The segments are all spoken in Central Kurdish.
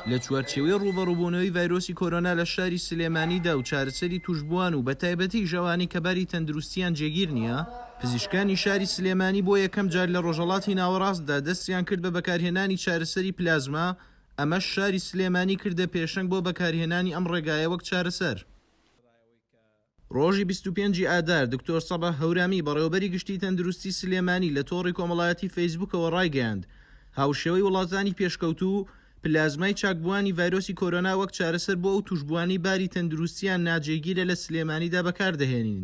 لە چوارچێوەی ڕووبەڕووبوونەوەی ڤایرۆسی کۆرۆنا لە شاری سلێمانیدا و چارەسەری تووشبووان و بەتایبەتیش ئەوانەی کە باری تەندروستییان جێگیر نییە، پزیشکانی شاری سلێمانی بۆ یەکەم جار لە ڕۆژهەڵاتی ناوەڕاستدا دەستیان کرد بە بەکارهێنانی چارەسەری پلازما، ئەمەش شاری سلێمانی کردە پێشەنگ بۆ بەکارهێنانی ئەم ڕێگایە وەک چارەسەر. ڕۆژی بیست و پێنج ی ئادار، دکتۆر سەباح هەورامی، بەڕێوەبەری گشتیی تەندروستیی سلێمانی لە تۆڕی کۆمەڵایەتیی فەیسبووکەوە ڕایگەیاند، هاوشێوەی وڵاتانی پێشکەوتوو، پلازمای چاکبووانی ڤایرۆسی کۆرۆنا وەک چارەسەر بۆ ئەو تووشبووانەی باری تەندروستییان ناجێگیرە لە سلێمانیدا بەکاردەهێنین.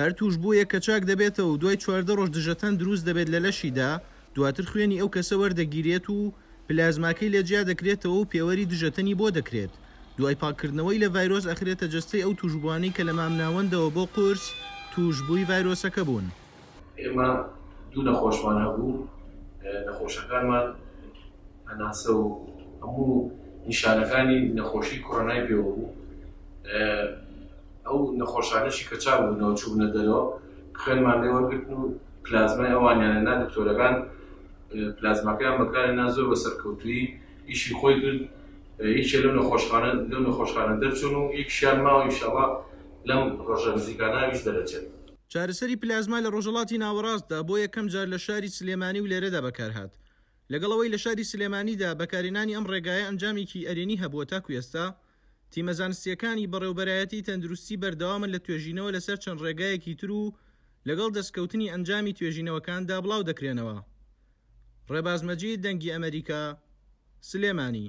هەر تووشبوویەک کە چاک دەبێتەوە و دوای چواردە ڕۆژ دژەتەن دروست دەبێت لە لەشیدا، دواتر خوێنی ئەو کەسە وەردەگیرێت و پلازماکەی لێ جیا دەکرێتەوە و پێوەری دژەتەنی بۆ دەکرێت، دوای پاککردنەوەی لە ڤایرۆس ئەخرێتە جەستەی ئەو تووشبووانەی کە لە مامناوەندەوە بۆ قورس تووشبووی ڤایرۆسەکە بوون. ئێمە دوو نەخۆشمان هەبوو نەخۆشەکانمان هەناسە و هەموو نیشانەکانی نەخۆشی کۆرۆنای پێوە بوو ئەو نەخۆشانەشی کە چاوو نەوچوونە دەرەوە خوێنمان لێوەگرتن و پلازمای ئەوانیانە نا دکتۆرەکان پلازماکەیان بەکارە نا زۆر بە سەرکەوتوی ئیشی خۆی کرد یەکێ لەو نەخۆشخانە لەو نەخۆشخانە دەرچوون و یەکشیان ماوە ئیشەڵا لەم ڕۆژە نزیکاناویش دەرەچێت چارەسەری پلازما لە ڕۆژەڵاتی ناوەڕاستدا بۆ یەکەم جار لە شاری سلێمانی و لێرەدا بەکارهات. لەگەڵ ئەوەی لە شاری سلێمانیدا بەکارهێنانی ئەم ڕێگایە ئەنجامێکی ئەرێنی هەبووە تاکو ئێستا تیمە زانستییەکانی بەڕێوەبەرایەتی تەندروستی بەردەوامن لە توێژینەوە لەسەر چەند ڕێگایەکی تر و لەگەڵ دەستکەوتنی ئەنجامی توێژینەوەکاندا بڵاودەکرێنەوە. ڕێباز مەجید، دەنگی ئەمەریکا، سلێمانی.